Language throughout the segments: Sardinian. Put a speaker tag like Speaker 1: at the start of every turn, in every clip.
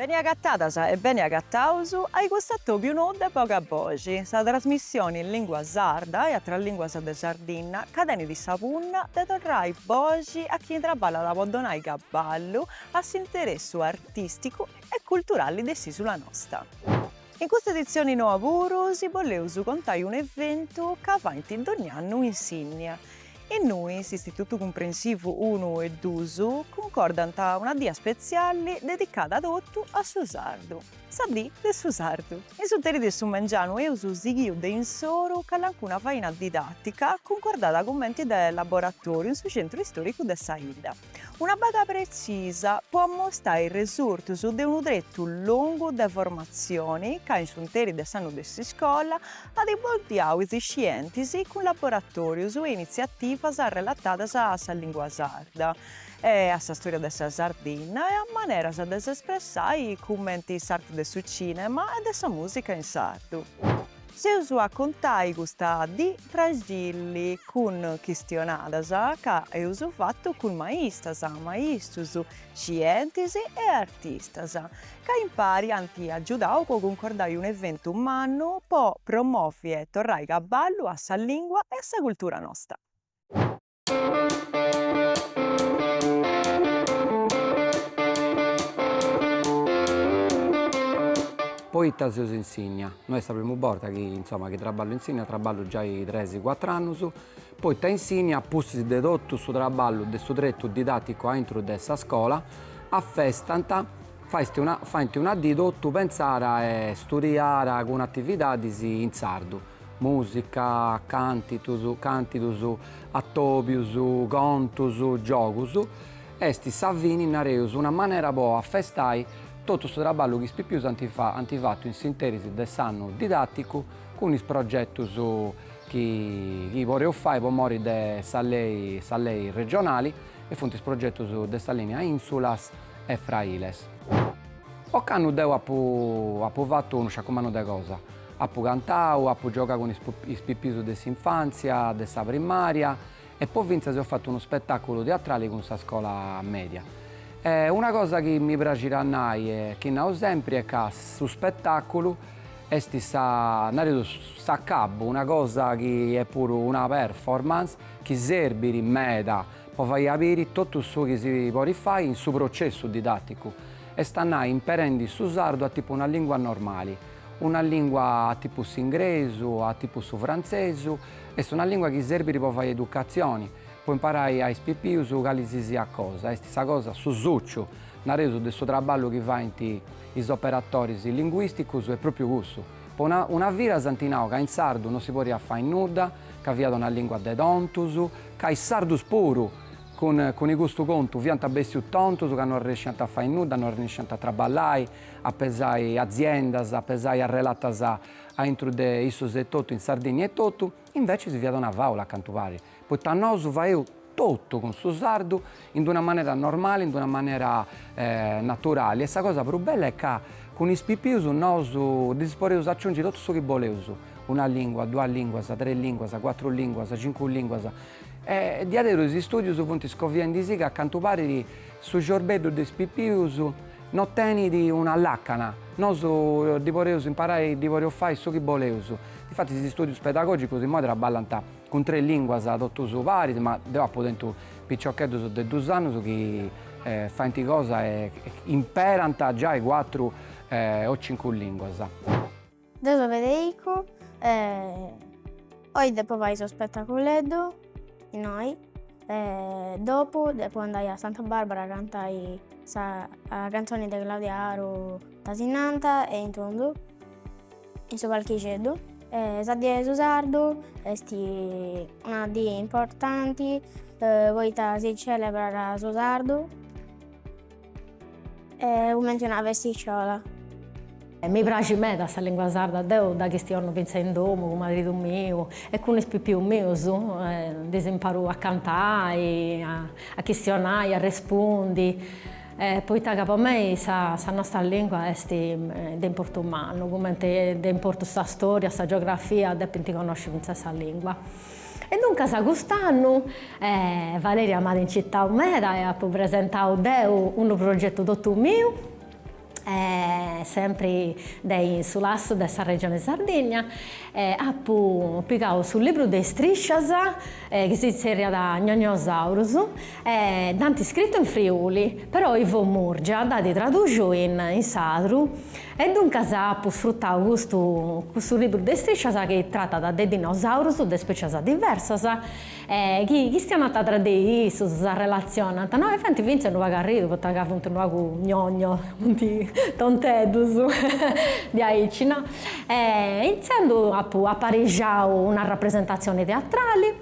Speaker 1: Beni agatadas e beni agataus ai cust'atobiu nou de Boga Boxi, sa trasmissioni in lingua sarda e atras linguas de Sardinna ca tenit sa punna de torrai boxi a chini traballat po donai cabballu a s'interessu artisticu e culturalli de s'isula nosta. In custa edizione noa puru si boleus contai unu eventu ca faint dogn'annu in Sinnia. Innui s'Istitutu Cumprensivu unu e dus cuncordant una dì spetziali dedicada totu a su sardu, sa dì de su sardu. In s'interi de su mengianu eus sighiu de insoru calancuna faina didàtica cuncordada cumenti de laboratoriu in su centru istoricu de sa 'idda. Una baga pretzisa po ammostai is resurtus de unu tretu longu de formatzioni ca in s'unteri de s'annu de s'iscola at imboddiau is iscientis cun laboratòrius e initziativas relatadas a sa lìngua sarda e a sa stòria de sa Sardinna e a maneras de s'espressai cumenti s'arti de su cìnema e de sa mùsica in sardu. S'eus a contai custa dì praxili cun chistionadas ca eus fatu cun maistras, maistrus, scientis e artistas ca impari ant agiudau po cuncordai unu eventu mannu po promovi e torrai cabballu a sa lìngua e a sa cultura nosta.
Speaker 2: Poita seus in Sinnia? No est sa primu borta chi insoma chi traballu in Sinnia, traballu giai tres cuatru annus, poita in Sinnia a pustis de totu su traballu de su tretu didaticu aintru de sa scola affestant fa faint una dì totu pentzara e studiara cun atividadis in sardu. Mùsica, cantus, càntidus, atòbius, contus, giogus, est sa fini, nareus, una manera po afestai totu su traballu chi is pipius ant ant fatu in s'interis de s'annu didàticu cun is progetus chi chi poreus fai po mori de sa lei sa lei regionali e funt is progetus de sa lìnia Insulas e Frailes. Ocannu deu apu apu fatu unu sciacumannu de cosa, Apu cantau, apu giogau cun is pipius de s'infàntzia, de sa primària e po fintzas eus fatu unu spetàculu teatrali cun sa scola mèdia. Una cosa chi mi praxit a nai e chi nau sempri est ca su spetàculu est sa, nareus, s'acabu, una cosa chi est puru una performance chi serbit meda po fai a biri totu su chi si podit fai in su processu didàticu, est a nai imperendi su sardu a tipu una lìngua normali. Una lìngua a tipu s'ingresu, a tipu su frantzesu, est una lìngua chi serbit po fai educatzioni, po imparai a is pipius cali si siat cosa, e sa cosa, su suciu, nareus, de su traballu chi faint is operatoris linguìsticus est pròpiu cussu. Po una vida s'ant nau ca in sardu non si podiat fai nudda, ca fiat una lìngua de tontus, ca is sardus puru cun cun custu contu fiant bessius tontus ca non arresciant a fai nudda, non arresciant a traballai, a pesai aziendas, a pesai arrelatas aintru de issus etotu, in Sardìnnia etotu, invecis fiat una fàula, cantu parit, poita nosu faeus totu cun su sardu in d'una manera normali, in d'una manera naturali e sa cosa prus bella est ca cun is pipius nosu ddis podeus aciungi totu su chi boleus, una lìngua, duas lìnguas, tres lìnguas, cuatru lìnguas, cincu lìnguas e diaderus is istùdius funt iscoviendisi ca cantu parit su ciorbeddu de is pipius No tenit una làcana. Nosu ddi podeus imparai, ddi podeus fai su chi boleus. Infatis is istùdius pedagògicus imoi traballant cun tres lìnguas totus paris, ma deu apu tentu piciocheddus de duus annus chi faint cosa e imperant giai cuatru o cincu lìnguas.
Speaker 3: Deu so Federico e oi depo fai su spetaculeddu innoi e dopu depu andai a Santa Barbara a cantai sa canzoni de Claudia Aru Tasinanta e in tundu in su palchixeddu e sa die 'e su sardu esti una die importanti poita si celebrat su sardu. E cumenti una bestixiola.
Speaker 4: Mi praxit meda sa lingua sarda, deu dda chistiono fintzas in domu cun maridu miu e cun is pipius mius, ddis imparu a cantai, a chistionai, a arrespundi, poita ca po mei sa nostra lingua est de importu mannu, cumenti de importu sa storia, sa geografia, depint connosci fintzas sa lingua. E duncas cust'annu Valeria m'at incitau meda e apu presentau deu unu progetu totu miu, sempri de in su lasu de sa Regione Sardigna, apu pigau su libru de istriscias chi si tzerriat Gnognosaurus e dd'ant iscritu in Friuli, però Ivo Murgia dd'at tradùxiu in sardu E duncas apu sfrutau custu custu libru de istriscias chi tratat de dinosaurus de specias diversas e chi chistionant tra de issus, s'arrelatzionant, no? E faint fintzas unu pagu arridu poita ca funt unu pagu gnogno, funt tonteddus diaici, no? E intzandus apu aparixau una rapresentatzioni teatrali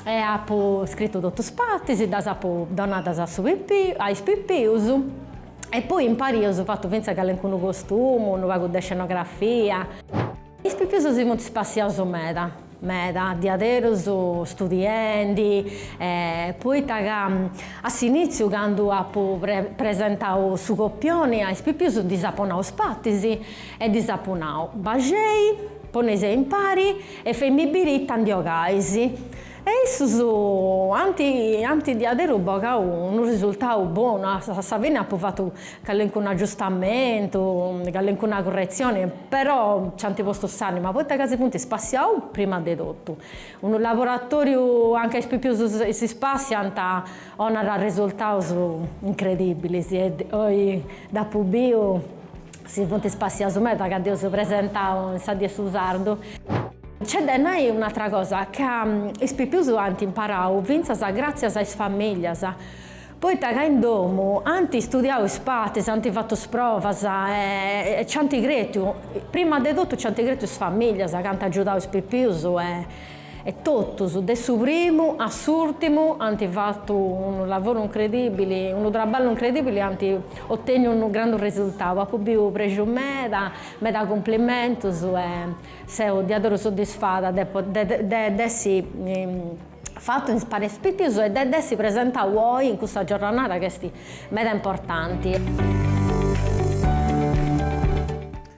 Speaker 4: e apu scritu totus is partis, ddas apu donadas a su pipiu a is pipius E poi impari eus fatu fintzas calencunu costumu, unu pagu de scenografia. Is pipius si funt spassiaus meda, meda, diaderus studiendi, poita ca a s'initziu candu apu presentau su copioni a is pipius ddis apu nau is partis e ddis apu nau, baxei, poneisei impari e fei·mì biri ita ndi 'ogais. E issus ant ant diaderu bogau unu risultau bonu, a sa fini apu fatu calincunu agiustamentu, calincuna curretzioni, però nci ant postu s'ànima, poita ca si funt spassiaus prima de totu. Unu laboratoriu anca is pipius si spassiant 'onat risultaus incredibilis, oi dd'apu biu Si funt ispassiaus meda ca dd'eus presentau in sa Die 'e su Sardu. Nc'est de nai un'atra cosa, ca is pipius ant imparau fintzas gràtzias a is famìlias, poita ca in domu ant istudiau is partis, ant fatu is provas e nci ant cretu, prima de totu nci ant cretu is famìlias ca ant agiudau is pipius e. E totus, de su primu a s'ùrtimu, ant fatu unu lavoru incredìbili, unu traballu incredìbili, ant otènniu unu grandu resurtau. Apu biu prexu meda, meda cumplimentus e seu diaderus soddisfada de de dd'essi fatu in s'Ispàtziu Pitius e de dd'essi presentau oi in custa giorranada chi est meda importanti.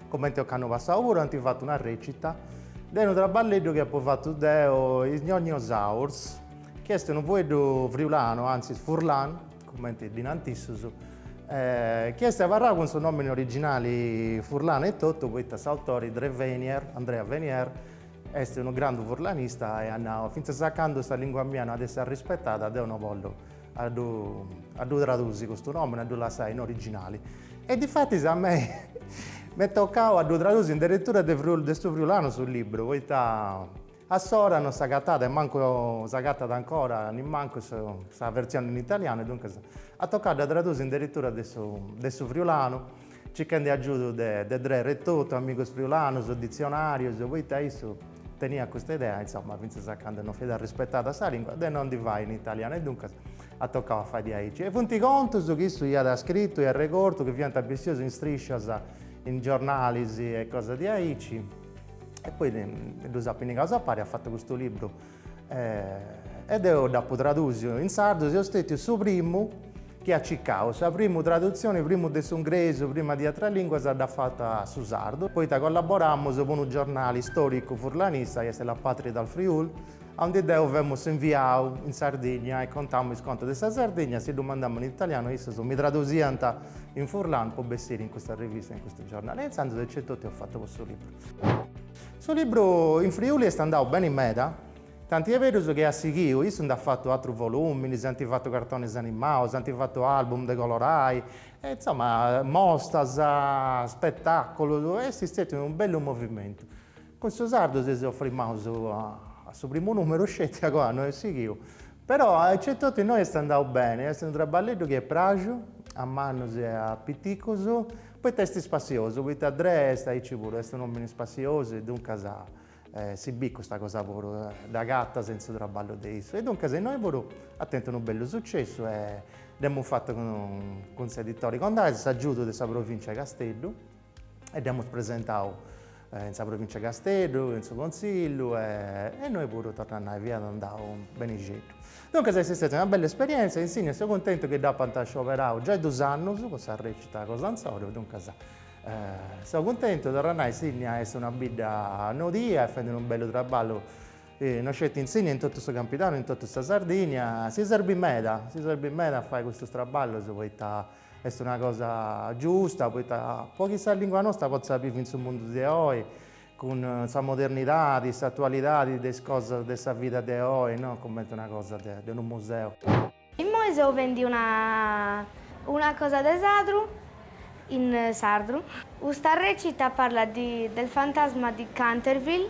Speaker 5: Comente ocannu passau puru ant fatu una recita, est unu traballeddu chi apo fatu deo, Is Gnognosaurs, chi est unu fueddu friulanu, antzis furlan, comente ddi narant issus, chi est abarrau cun su nomini originali furlanu etotu, poita s'autori Dree Venier, Andrea Venier, est unu grandu furlanista e at nau, fintzas a candu sa lingua mia no at essi arrispetada deu no bollu a ddu tradusi custu nomini, a ddu lassai in originali e difatis a mei m'est tocau a ddu tradusi in deretura de su friulanu su libru, poita a s'ora non s'agatàt e mancu s'agatat ancora nemmancu sa versioni in italianu e duncas at tocau a dda tradusi in deretura de su friulanu Circhende agiudu de Dree etotu, amigos friulanos, ditzionàrios, poita issu teniat custa idea, insoma, fintzas a cando non fit arrispetada sa lìngua, de non ddi fai in italianu e duncas at tocau a fai diaici. E funt contus chi issu iat scritu e arregortu chi fiant bessieus in striscias, in giornalis e cosas diaici e poi ddus at pinnigaus a pari e at fatu custu libru e deo dd'apo tradusiu in sardu, seu stètiu su primu chi at cicau sa primu tradutzioni prima de s'ungresu prima de atras lìnguas a dda fata a su sardu, poita collaboramus po unu giornali stòricu furlanista chi est La Patria del Friul, aundi deu femus inviau in Sardigna e contamu is contus de sa Sardigna, si ddu mandamus in italianu issus mi tradusiant in furlanu po bessiri in custa rivista e in custu giornali e intzandus aici etotu eus fatu cussu liburu. Su libru in Friuli est andau beni meda, tanti est berus chi at sighiu, issu nd'at fatu atrus voluminis, ant fatu cartonis animaus, ant fatu album de colorai, e insoma, mostas, spetaculus, e est stetiu unu bellu movimentu. Cun su sardu si seus frimaus a su primu numeru sceti agoa no est sighiu, però aici etotu innoi est andau beni, est unu traballeddu chi est praxiu a mannus e a piticus, Poita est spassiosu, poita Dre est aici puru, est un'omini spassiosu e duncas si bit custa cosa puru, dd'agatas in su traballu de issu e duncas innoi puru at tentu unu bellu sucessu e dd'emus fatu cun s'editori Condaghes, s'agiudu de sa Provincia 'e Casteddu e dd'emus presentau in sa Provìncia 'e Casteddu, in su Contzillu e innoi puru, torra a nai, fiat andau benixeddu. Duncas est stètia una bella esperièntzia e in Sinnia seu contentu chi dd'apant scioberau giai duus annus po sa rècita cun sa scola, duncas seu cuntentu, torra a nai, Sinnia est una bidda nodia e fait unu bellu traballu, no sceti in Sinnia in totu su Campidanu, in totu sa Sardigna, si serbit meda, si serbit meda a fai custus traballus poita Est una cosa giusta poita po chi sa lìngua nosta potzat bivi in su mundu de oi, cun sa modernidadi, s'atualidadi de is cosas de sa vida de oi, no cumenti una cosa de unu museu. Immoi
Speaker 3: seus fendi una una cosa de teatru in sardu. Custa recita parlat del fantasma di Canterville,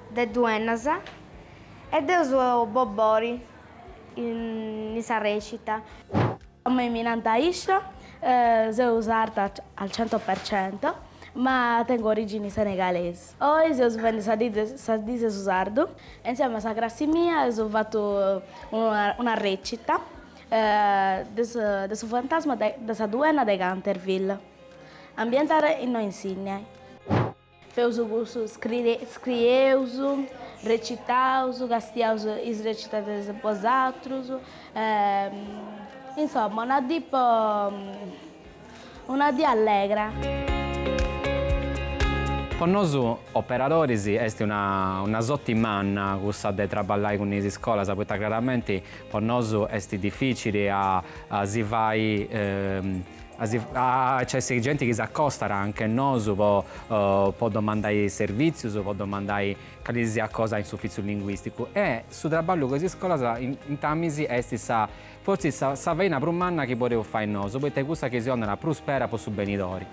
Speaker 3: de Duennas, e deu seu Bobbori, in sa rècita. A mei
Speaker 6: mi nant Aisha, seu sarda al cento per cento, ma tengo origini senegalesi. Oi seus fendi sa die sa dì de su sardu e insieme a sa crassi mia eus fatu una rècita de su de su fantasma de sa duenna de Canterville. Ambientada innoi in Sinnai. Feus cussu, scrieus, recitaus, castiaus is recitas de is atrus, insoma una dì po una dì allegra.
Speaker 7: Po nosu operadoris est una soti manna cussa de traballai cun is iscolas poita craramenti po nosu est dificili a si fai Nc'est genti chi s'accostat anche nosu po po domandai servizius, po domandai cali siat cosa in s'uffiziu linguisticu e su traballu cun is iscolas in intamis esti sa forsis sa sa faina prus manna chi podeus fai nosu poita est cussa chi si donat prus spera po su benidori.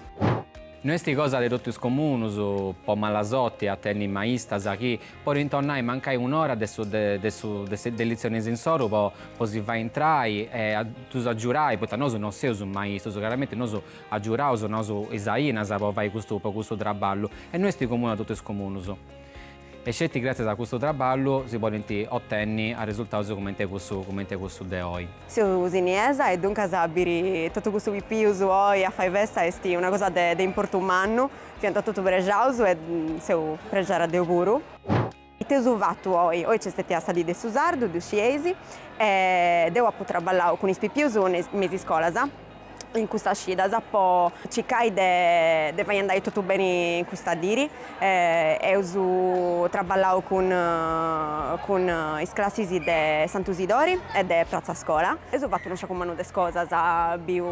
Speaker 7: No esti cosa de totu is comunus po mala sorti a tenni maistas chi Podint donai mancai un'ora de su de su de litzionis insoru po po si fai intrai e a ddus agiurai, poita nosu no seus maistus, craramenti nosu agiuraus donaus is ainas po fai custu po custu traballu e no esti comunu a totu is comunus. E sceti gratzias a custu traballu si podint otenni arresultaus cumenti cussu cumenti cussu de oi. Seu ussinesa
Speaker 1: e duncas a biri totu custus pipius oi a fai festa esti una cosa de de importu mannu, Fiant totu prejaus e seu prejada deu puru. Ite eus fatu oi? Oi nc'est stetia sa dì de su sardu, ddu scieis, e deu apu traballau cun is pipius me is iscolas in custas cidas po circai de fai andai totu beni custa diri. Eus traballau cun cun is classis de Santu Sidori e de Pratza Scola. Eus fatu unu sciacu mannu de cosas, biu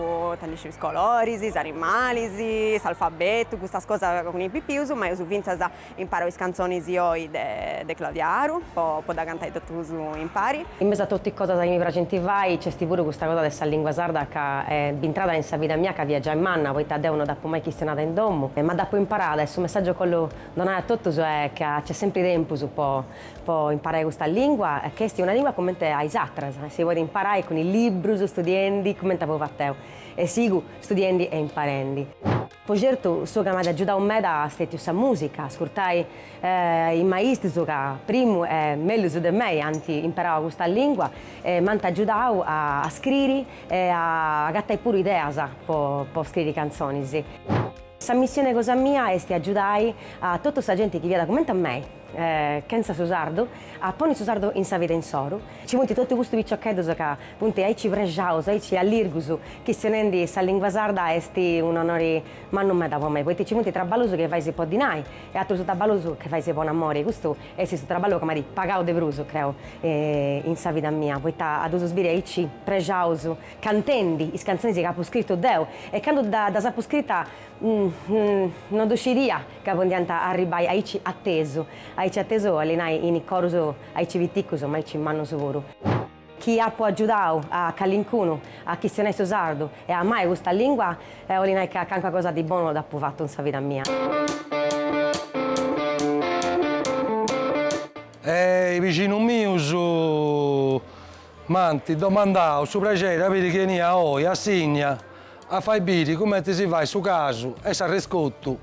Speaker 1: is coloris, is animalis, s'alfabetu, custas cosas cun is pipius, ma eus fintzas imparau is cantzonis oi de Claudia Aru po po dda cantai totus impari. In mesu a totu is cosas
Speaker 8: chi mi praxint fai nc'est puru custa cosa de sa lingua sarda ca est intrada in sa vida mia candu fia giai manna poita deu no dd'apu mai chistionada in domu, ma dd'apu imparada e su messàgiu ca bollu donai a totus est ca nc'est sempri tempus po po imparai custa lìngua, chi est una lìngua comente a is atras, si podit imparai cun is librus, studiendi, comente apu fatu deu, e sigu studiendi e imparendi. Po certu su ca m'at agiudau meda est stètiu sa mùsica, ascurtai is maistus ca primu e mellus de mei ant imparau custa lìngua e m'ant agiudau a scriri e a agatai puru ideas po scriri cantzonis. Sa missione cosa mia est agiudai a totu sa genti chi fiat cumenti a mei, chentza su sardu, a ponni su sardu in sa vida insoru. Ci funt totu custus piciocheddus ca funt aici prexaus, aici allirgus, chistionendi sa lingua sarda est un'onori mannu meda po mei, poita ci funt traballus chi fais po dinai e atrus traballus chi fais po amori, custu est su traballu chi m'at pagau de prus, creu, in sa vida mia, poita a ddus biri aici prexaus cantendi is cantzonis chi apu scritu deu e candu ddas apu scrita no ddu scidia ca podiant a arribbai aici atesu, aici atesu 'olit nai in corus aici piticus ma aici mannus puru. Chi apu agiudau a calincunu a chistionai su sardu e a amai custa lìngua, 'olit nai ca calincuna cosa de bonu dd'apu fatu in sa vida
Speaker 9: mia. Is bixinus mius. M'ant domandau su prexeri de biri chi benia oi a Sinnia a fai biri cumenti si fait su casu e s'arrescotu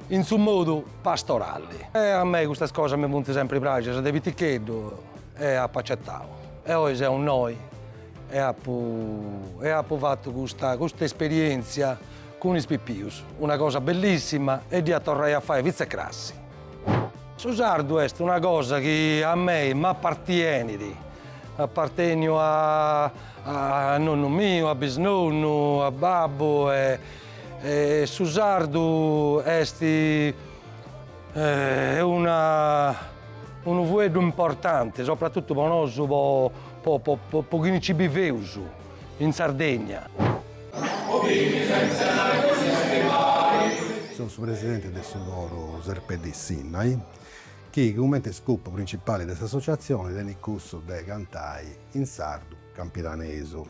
Speaker 9: in su modu pastorali. A mei custas cosas mi funt sempri pràxias de piticheddu e apu acetau. E oi seu innoi e apu e apu fatu custa custa esperientzia cun is pipius, una cosa bellissima e dd'ia a torrai a fai fintzas crasi. Su sardu est una cosa chi a mei m'apartienit, aparteniat a nonnu miu, a bisnonnu, a babbu e su sardu est una unu fueddu importanti, soprattuttu po nosu po chini nci biveus. in
Speaker 10: Sardegna. Seu su presidente de su Coru Serpeddì Sinnai, chi cumenti scopu principali de s'assotziatzioni tenit cussu de cantai in sardu campidanesu.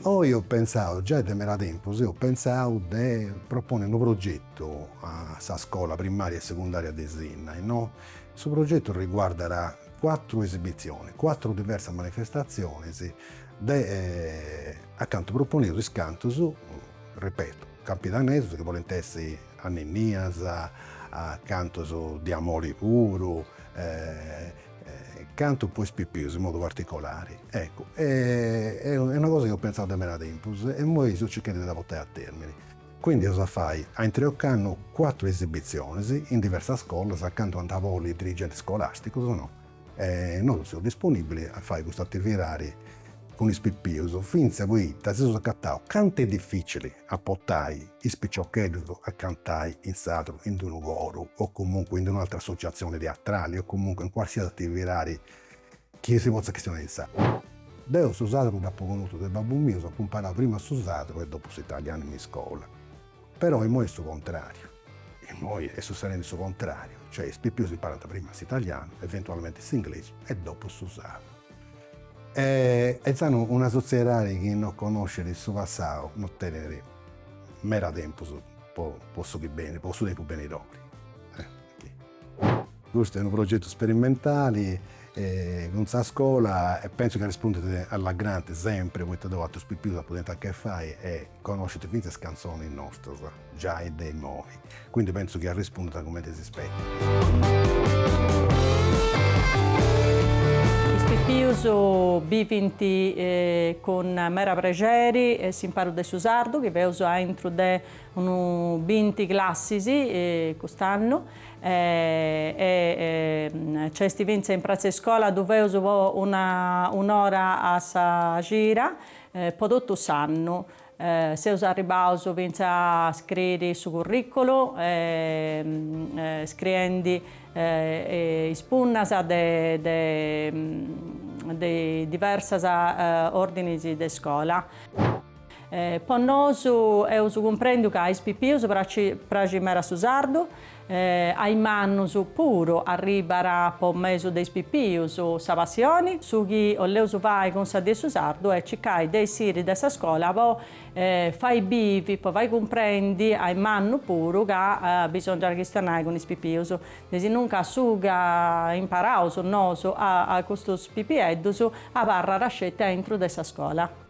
Speaker 10: Oi eus pentzau, giai de meda tempus eus pentzau de proponi unu progetu a sa scola primaria e segundària de Sinnai, no? Su progetu riguardat cuatru esibitzionis, cuatru diversas manifestatzionis de acanta proponeus is cantus, ripetu, campidanesus chi podint essi anninnias, cantus de amori puru, cantus po is pipius in modu particolari. Eccu, est una cosa chi eus pentzau de meda tempus e imoi seus circhendi de dda portai a termini. Cuindi eus a fai, aintru 'e ocannu cuatru esibitzionis in diversas scolas acanta ant a boli is dirigentis scolàsticus, no. E nosu seus disponìbilis a fai custa atividadi cun is pipius, fintzas poita si seus acataus cantu est difìcili a portai is piciocheddus a cantai in sardu in unu coru o comunque in d'un'altra assotziatzioni teatrali o comunque in cualsiasi atividadi Chi si potzat chistionai in sadru. Deu su sadru dd'apu connotu de babbu miu, apu imparau prima su sadru e dopu s'italianu in iscola. Però immoi est su contrariu. Immoi est sutzedendi su contrariu, cioè is pipius imparant prima s'italianu, eventualmenti s'inglesu e dopu su sadru. E intzandus una sotziedadi chi no connoscit su passau no tenit meda tempus po su chi benit, po su tempus benidori. Custu est unu progetu sperimentali cun sa scola e pentzu chi arrispundint a la grande sempri poita deu atrus pipius apu tentu a chi fai e connoscint fintzas is cantzonis nostras giai de imoi. Quindi pentzu chi arrispundint cumenti s'ispetat.
Speaker 11: Is pipius bivint cun meda prexeri s'imparu de su sardu chi feus aintru de Unu binti classis cust'annu e nc'est fintzas in pratza iscola ddu feus po una un'ora a sa cira po totu s'annu. Seus arribbaus fintzas a scriri su curriculu scriendi is punnas de de diversas ordinis de iscola. Po nosu, eus cumprendiu ca a is pipius praxit meda su sardu, a is mannus puru arribat po mesu de is pipius sa passioni, su chi oleus fai cun sa dì de su sardu est circai de essiri de sa scola po fai bivi, po fai cumprendi a is mannus puru ca bisongiat chistionai cun is pipius, desinunca su ca imparaus nosu a custus pipieddus abarrat sceti aintru de sa scola.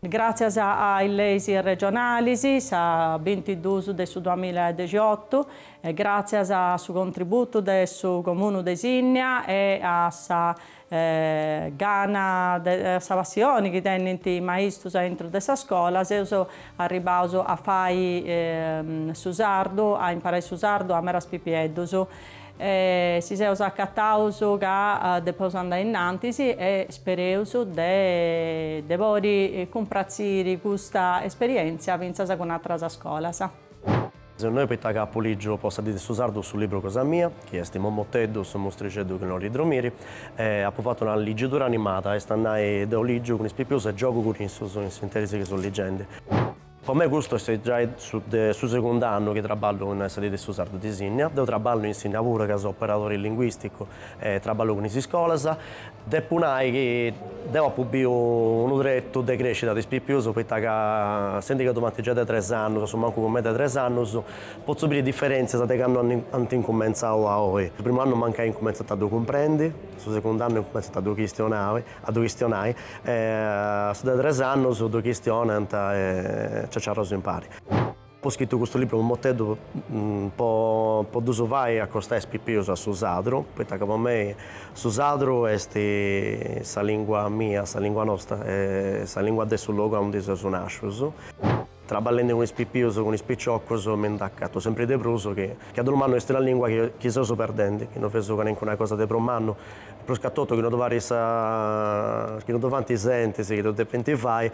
Speaker 11: Gràtzias a is leis regionalis, sa bintiduus de su duamilla e dexiotu, e gràtzias a su contributu de su Comunu de Sinnia e a sa gana, a sa passioni chi tenint is maistus aintru de sa scola, seus arribbaus a fai su sardu, a imparai su sardu a meras pipieddus. E si seus acataus ca depeus andai innantis e spereus de podi cumpratziri custa esperièntzia fintzas cun atras scolas. Seu
Speaker 12: innoi poita ca apu lìgiu po sa dì de su sardu su libru cosa mia, chi est Mommoteddu, su mustrixeddu chi no olit dromiri, e apu fatu una ligidura animada, est a nai, deu lìgiu cun is pipius e giogu cun issus in s'interis chi seu ligendi. Po me custu est giai su de su segundu annu chi traballu in sa dì de su sardu de Sinnia. Deu traballu in Sinnia puru ca seu operadori linguisticu e traballu cun is iscolas. Depu nai chi deu apu biu unu tretu de crescida de is pipius poita ca essendi ca ddu faint giai de tres annus, assumancu cun mei de tres annus, potzu biri diferentzias de candu ant incumentzau a oi. Su primu annu mancai incumentzant a ddu cumprendi, su segundu annu incumentzant a ddu chistionai a ddu chistionai, e a su de tres annus ddu chistionant e ciaciarraus impari. Apu scritu custu libru Mommoteddu po po ddus fai acostai is pipius a su sadru, poita ca po mei su sadru est sa lingua mia, sa lingua nosta, sa lingua de su logu aundi seus nascius. Traballendi cun is pipius, cun is piciocus, mi ndi acatu sempri de prus chi a dolu mannu est una lìngua chi seus perdendi, chi no feus calincuna cosa de prus mannu, prus ca totu chi no ddu fait sa, chi no ddu faint is entis chi ddu depint fai,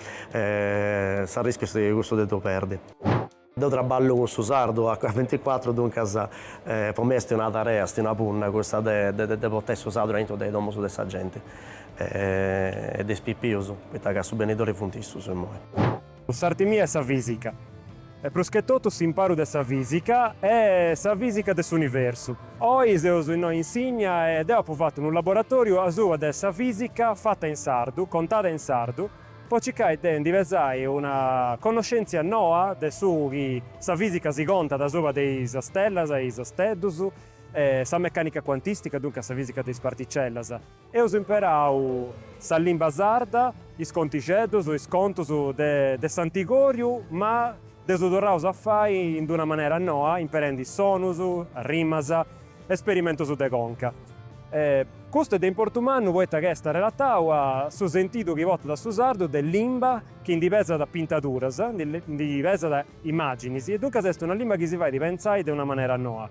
Speaker 12: s'arrischiu est cussu de ddu perdi. Deu traballu cun su sardu a venticuatru, duncas po mei est una tarea, est una punna cussa de de portai su sardu aintru de is domus de sa genti e de is pipius, poita ca su benidori funt issus immoi. S'arti mia est
Speaker 13: sa fìsica, e prus che totu s'imparu de sa fìsica e sa fìsica de s'universu. Oi seus innoi a Insigna e deu apu fatu unu laboratòriu asuba de sa fìsica fata in sardu, contada in sardu, po circai de ndi pesai una connoschèntzia noa de su chi sa fìsica si contat asubra de is stellas e is steddus e sa mecànica cuantìstica, duncas sa fìsica de is particellas. Eus imperau sa limba sarda, is contixeddus, is contus de s'antigòriu, ma dd'eus torraus a fai in d'una manera noa, imperendi sonus, rimas, esperimentus de conca. Custu est de importu mannu poita ca est arrelatau a su sentidu chi portat su sardu de limba chi ndi pesat pintaduras, ndi pesat imàginis e duncas est una limba chi si fait pentzai de una manera noa.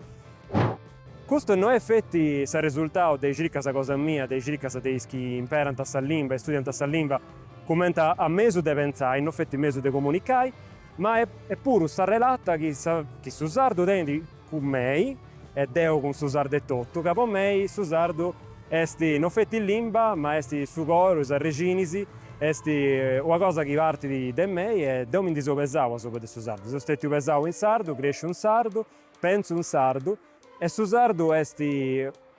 Speaker 13: Custu no est feti s'arresultau de is circas cosa mia, de is circas de is chi imperant sa limba e studiant sa limba cumenti a mesu de pentzai, no feti mesu de comunicai, ma est puru s'arrelata chi chi su sardu tenit cun mei, e deu cun su sardu etotu, ca po mei su sardu est no feti limba, ma est su coru, is arrexinis, est una cosa chi partit de mei e deu mi ndi seu pesau asubra de su sardu, seu stetiu pesau in sardu, cresciu in sardu, Pentzu in sardu e su sardu est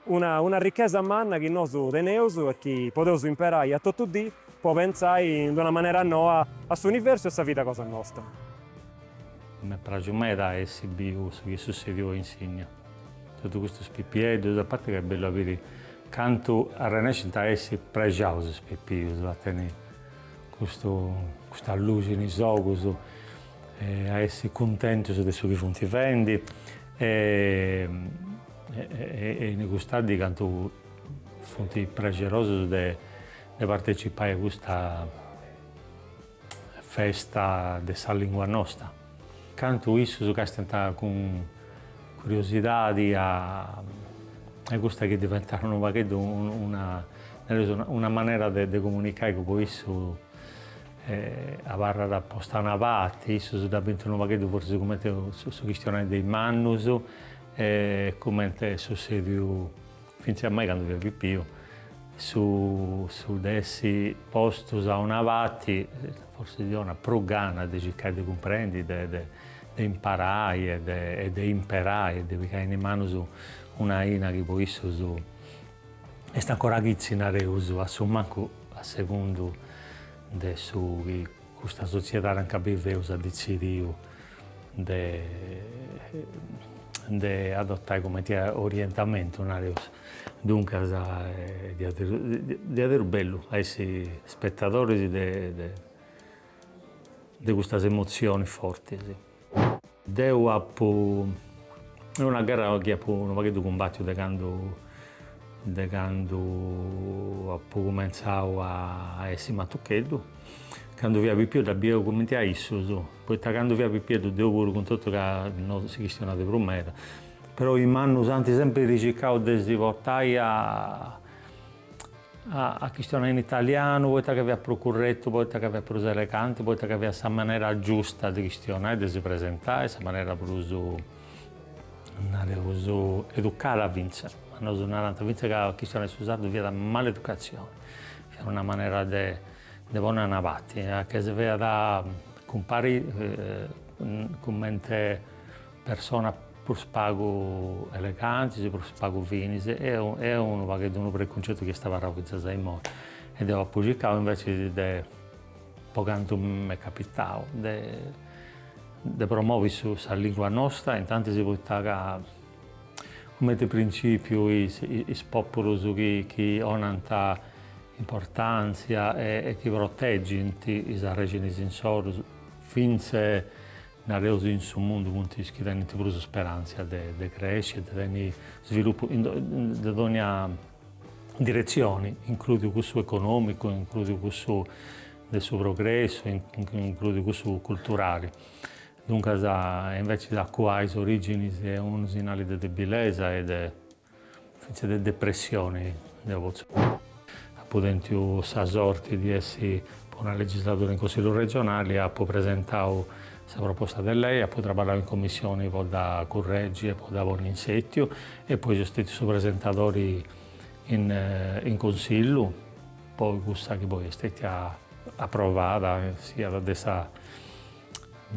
Speaker 13: una una ricchesa manna chi nosu teneus e chi podeus imperai a totu dì po pentzai in d'una manera noa a s'universu e a sa vida cosa nosta.
Speaker 14: M'est praxiu meda a essi biu su chi est sussèdiu a Insigna totu custus pipieddus, a parti ca est bellu a biri cantu arrennescint a essi prexaus is pipius, a tenni custu custa luxi in is ogus. e a essi cuntentus de su chi funt fendi e e in custa dì cantu funt praxerosus de de partecipai a custa festa de sa lingua nosta, cantu issus càstiant cun curiosidadi e a custa chi diventat unu pagheddu una nareus una manera de comunicai chi po issu E abarrat posta a una parti, issus dda bint unu pagheddu forsis cumenti su chistionai de is mannus e cumenti est sussediu fintzas a mei candu fia pipiu, su su de essi postus a una parti, forsis ddi donat prus gana de circai de cumprendi de de de imparai e de e de imperai e de pigai in is manus una aina chi po issus Est ancora chitzi, nareus, a su mancu a segundu de su chi custa sotziedadi anca biveus at detzidiu de de adotai cumenti a orientamentu, nareus, duncas, diaderus bellu a essi spettadoris de de de custas emotzionis fortis Deu apu, est una gherra chi apu unu pagheddu cumbatiu de candu, de candu apu cumentzau a essi matucheddu, candu fia pipiu dda biu cumenti a issus, poita candu fia pipieddu deu puru cun totu ca no si chistionàt prus meda, però is mannus ant sempiri circau de si portai a a a chistionai in italianu poita ca fiat prus curretu, poita ca fiat prus eleganti, poita ca fiat sa manera giusta de chistionai, de si presentai, sa manera prus, nareus, educada fintzas, ma nosu narant fintzas ca chistionai su sardu fiat maleducatzioni, fiat una manera de de ponni a una parti, chi si faiat cumparri cumenti Personas prus pagu elegantis, prus pagu finis, est unu pagheddu unu precuncettu chi est abarrau fintzas a immoi e deu apu circau invecias de, po cantu m'est capitau, de de promovi su sa lingua nosta, intantis poita ca cumenti principiu is is populus chi chi 'onant importantzia e chi proteggint is arrexinis insoru fintzas Nareus in su mundu funt is chi tenint prus sperantzia de cresci e de tenni svilupu de dogna diretzioni, includiu cussu economicu, includiu cussu de su progressu, includiu cussu culturali. Duncas invecias a cuai is originis est unu sinali de debilesa e de. Fintzas de depressioni deu potzu nai. Apu tentiu sa sorti de essi po una legisladura in Consillu Regionali, apu presentau sa proposta de lei, apu traballau in Commissioni po dda curregi e po dda ponni in setiu e poi seu stetiu su presentadori in Consillu po cussa chi poi est stetia approvada siat de sa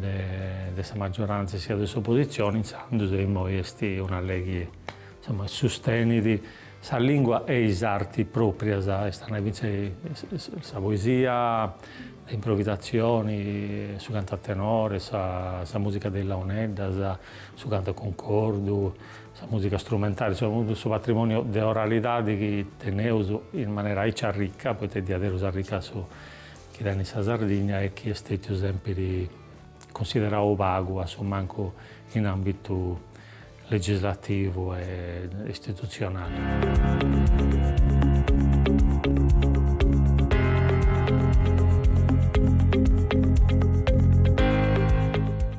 Speaker 14: de sa maggiorantzia siat de s'opositzioni intzandus e immoi est una lei chi insomma sustenit sa lingua e is arti pròprias, est a nai fintzas sa poesia de improvisatzioni, su cantu a tenore, sa musica de is launeddas, su cantu a cuncordu, sa musica strumentali, insomma totu su patrimoniu de oralidadi chi teneus in manera aici arricca, poita est diaderus arricca su chi tenit sa Sardigna e chi est stètiu sèmpiri cunsiderau pagu a su mancu in àmbitu legislativu e istitutzionali.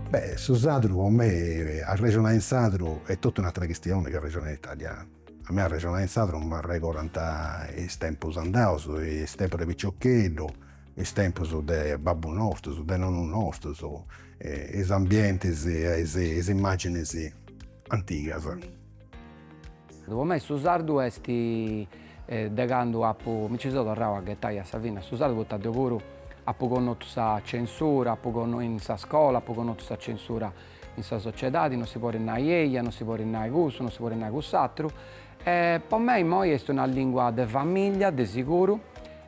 Speaker 10: Beh, su sadru po mei, arrexonai in sadru est totu un'atra chistioni chi arrexonai in italianu. A mei arrexonai in sadru m'arregorant is tempus andaus, is tempus de piciocheddu, is tempus de babbu nostus, de nonnu nostus, is ambientis e is imaginis
Speaker 2: antigas. Po mei su sardu est de candu apu, mi nci seu torrau a ghetai a sa fini a su sardu, poita deu puru apu connotu sa censura, in sa scola apu connotu sa censura In sa sociedadi non si podit nai eia, non si podit nai cussu, non si podit nai cuss'atru. E po mei immoi est una lingua de famiglia, de siguru,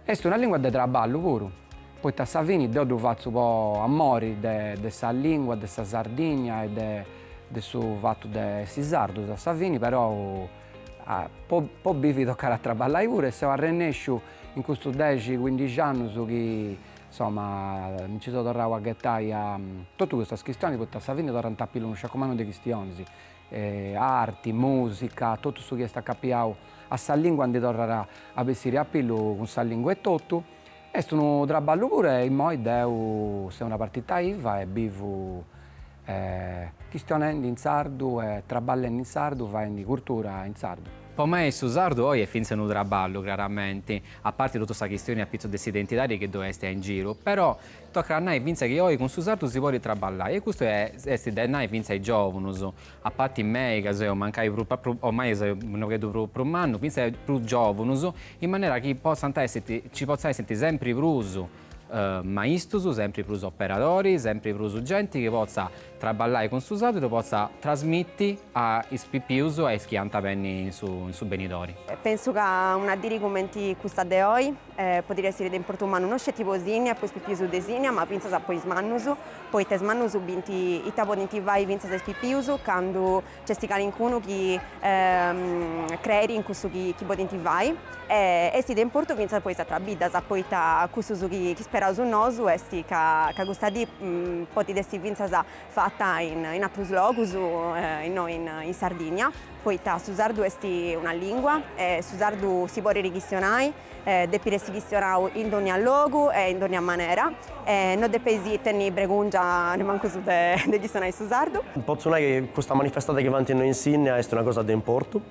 Speaker 2: est una lingua de traballu puru, poita a sa fini deu ddu fatzu po amori de de sa lingua, de sa Sardigna e de de su fatu de essi sardus a sa fini, perou po bivi tocat a traballai puru e seu arrennesciu in custus dexi, cuindixi annus chi Insoma, mi nci seu torrau a ghetai a totu custas chistionis, poita sa fini torrant a pillu unu sciacu mannu de chistionis, arti, musica, totu su chi est acapiau a sa lingua ndi torrat a bessiri a pillu cun sa lingua etotu. Est unu traballu puru e immoi deu seu una partita iva e bivu chistionendi in sardu traballendi in sardu faendi curtura in sardu. Po mei su
Speaker 7: sardu oi est fintzas unu traballu, craramenti, a parti totu sa chistioni a pitzus de s'identidadi chi ddoi esti a in giru, però tocat a nai fintzas chi oi cun su sardu si podit traballai e custu esti de nai fintzas a is giovunus, a parti mei ca seu mancai prus ormai seu unu pagheddu prus prus mannu, fintzas prus giovunus, in manera chi potzant essiti, nci potzat essiti sempri prus. maistus, sempri prus operadori, sempri prus genti chi potza traballai cun su sardu e ddu potza trasmiti a is pipius e a is chi ant a benni in su in su benidori. Pensu ca
Speaker 15: una diri cumenti custa de oi podiri essiri de importu mannu no sceti po Sìnnia, po is pipius de Sìnnia, ma fintzas po is mannus, poita is mannus binti ita podinti fai fintzas is pipius candu Nc'est calincunu chi creiri in cussu chi podint fai e est de importu fintzas po is atras biddas, poita cussu su chi speraus nosu est ca custa dì podit essi fintzas fata in atrus logus, innoi in Sardigna, poita su sardu est una lìngua e su sardu si podit chistionai Depit essi chistionau in dònnia logu e in dònnia manera, e no depeis tenni bregùngia nemancu unu de chistionai su sardu. Potzu nai chi custa
Speaker 12: manifestada chi faint innoi in Sìnnia est una cosa de importu,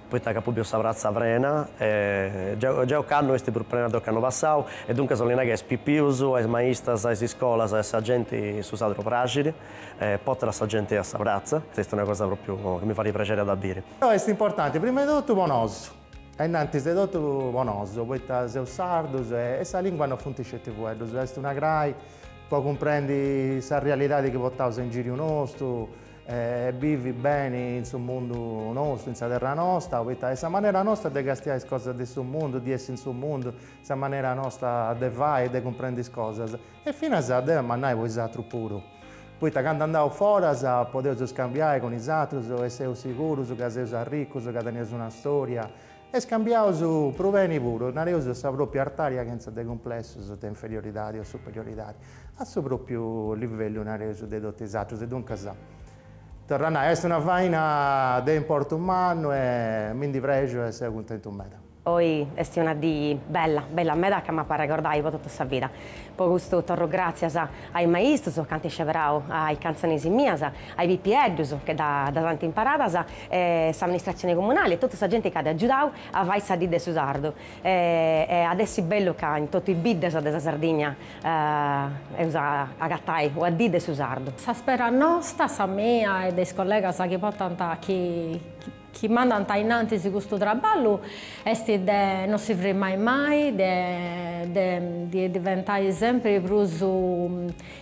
Speaker 12: poita ca apu biu sa pratza prena, gei ocannu est prus prena de ocannu passau, e duncas 'olli nai ca a is pipius, a is maistas, a is iscolas, a sa genti su sardu praxit, e portat sa genti a sa pratza, est una cosa pròpriu chi mi fait prexeri a dda biri. Est importanti,
Speaker 5: prima 'e totu, po nosu. E innantis de totu po nosu, poita seus sardus e sa lìngua no funt sceti fueddus, est una crai po cumprendi sa realidadi chi portaus in giriu nostu, bivi beni in su mundu nostu, in sa terra nosta, poita est sa manera nosta de castiai is cosas de su mundu, de essi in su mundu, sa manera nosta de fai e de cumprendi is cosas. E finas d'eu, ma nai po is atrus puru, poita candu andaus foras podeus scambiai cun is atrus e seus sigurus ca seus arricus, ca teneus una storia e scambiaus prus beni puru, nareus a sa propriu artaria chentza de cumplessus de inferioridadi o superioridadi, a su propriu livellu, nareus, de totus is atrus. Duncas, torru a nai, est una faina de importu mannu e mi ndi prexu e seu cuntentu meda. Oi est una
Speaker 8: dì bella, bella meda ca m'apo a arregordai po totu sa vida. Po custu torru gràtzias a is maistus ca ant isceberau is cantzonis mias, a is pipieddus che ddas ant imparadas, a s'amministratzioni comunali e totu sa genti ca at agiudau a fai sa dì de su sardu e iat essi bellu ca in totu is biddas de sa Sardigna eus a agatai una dì de su sardu. Sa spera nosta,
Speaker 4: sa mia e de is collegas chi portant chi chi mandant a innantis custu traballu est de non si frimmai mai, de ndi diventai sempri prus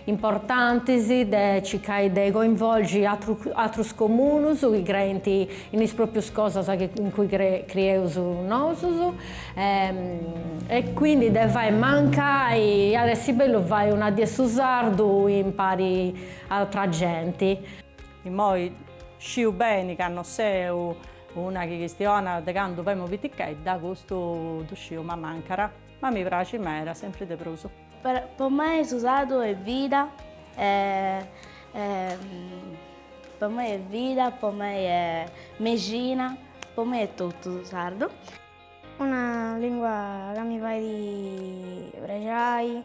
Speaker 4: importantis, de circai de coinvolgi atrus comunus chi creint in is proprius cosas in cui crieus nosus e quindi de fai mancai, iat essi bellu fai una die 'e su sardu impari a atra genti.
Speaker 11: Immoi sciu beni ca no seu una chi chistionat de candu femu pitichedda, custu ddu sciu, m'amancat, ma mi praxit meda, sempri de prus. Po mei
Speaker 6: su sardu est vida e po mei est vida, po mei est mexina, po mei est totu su sardu. Una
Speaker 3: lingua ca mi fait prexai.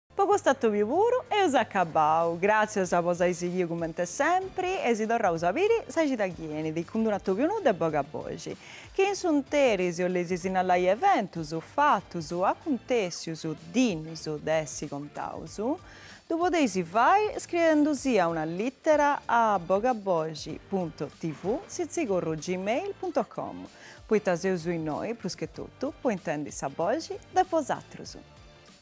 Speaker 1: Po cust'atòbiu puru eus acabau. Gràtzias po s'ai sighiu cumenti sempri e si torraus a biri sa cida chi enit cun d'unu atòbiu nou de Bogaboxi. Chi in s'unteri si 'oleis sinnalai eventus, fatus, acuntèssius, dìnnius de essi contaus, ddu podeis fai scriendusia una lìtera a bogaboxi puntu tv sitzigurru gmail puntu com poita seus innoi, prus che totu, po intendi sa boxi de bosatrus.